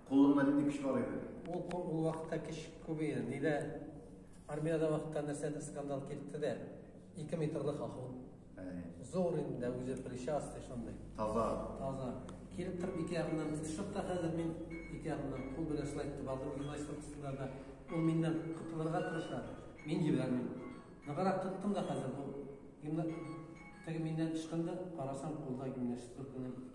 Кулыңда нинди көч бар иде? Ул ул вакытта көч күп иде. Нидә армиядә вакытта нәрсәдә скандал килде дә, 2 метрлык ахун. Зур инде үзе причастный шундый. Таза. Таза. Килеп торып ике ягыннан тотышып та хәзер мин ике ягыннан кул белән шулай итеп алдым гимнастик астында да. Ул миннән котылырга тырыша. Мин җибәрмим. Ныграк тоттым да хәзер бу. Гимна... Теге миннән ычкынды, карасам, кулда гимнастик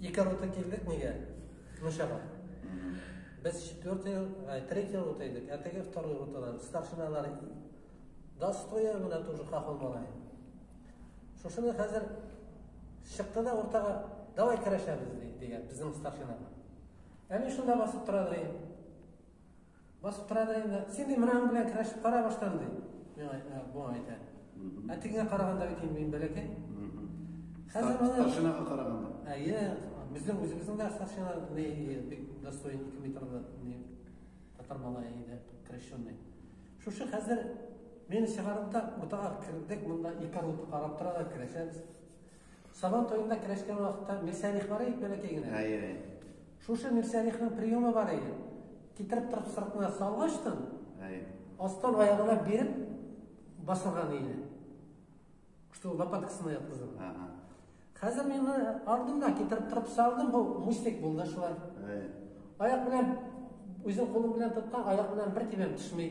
Ике рота килдек нигә? Мишага. Без четвертый, ай, третий рота идек, а теге второй ротадан старшиналар да стоя гына тоже хахол малай. Шушыны хәзер чыкты да уртага давай керәшәбез дигән безнең старшина. Әни шунда басып тора ди. Басып тора да инде, син ди менә белән керәшеп кара баштан ди. Миңа ә, бу әйтә. Ә тегеңә караганда бит инде мин бәләкәй. Хәзер менә Старшинага караганда. Әйе, безнең үзебезнең дә старшина не бик достоин 2 метрлы не татар малае иде, крещенный. Шушы хәзер мені чыгарып та уртага кердек, монда ике руты карап тора да керәшәбез. Сабан туенда керәшкән вакытта мирсәлих бар ит бәләкәй генә. Әйе, әйе. Шушы мирсәлихның приемы бар иде. Китереп торып сыртына салгачтын, әйе. Астан аягына биреп басылган иде. Что лопаткасына яткызып. Ага. Хәзер мин ардымда китереп торып салдым, бу мустик булды шулай. Әйе. Аяк белән үзен кулым белән тоткан, аяк белән бер тибәм төшми.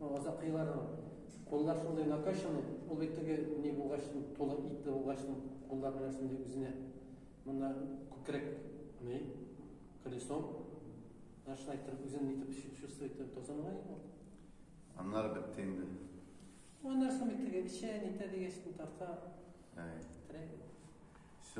Азак еллар куллар шундый накачаны, ул бит теге ни булгач, тулы итле булгач, куллар белән шундый үзенә монда күкрәк ни колесо шулай итеп үзен итеп чувствует итеп тозанлай ул. Аннары бетте инде. Аннары соң бит теге эчә, нитә дигәч, тарта. Әй. Терәк.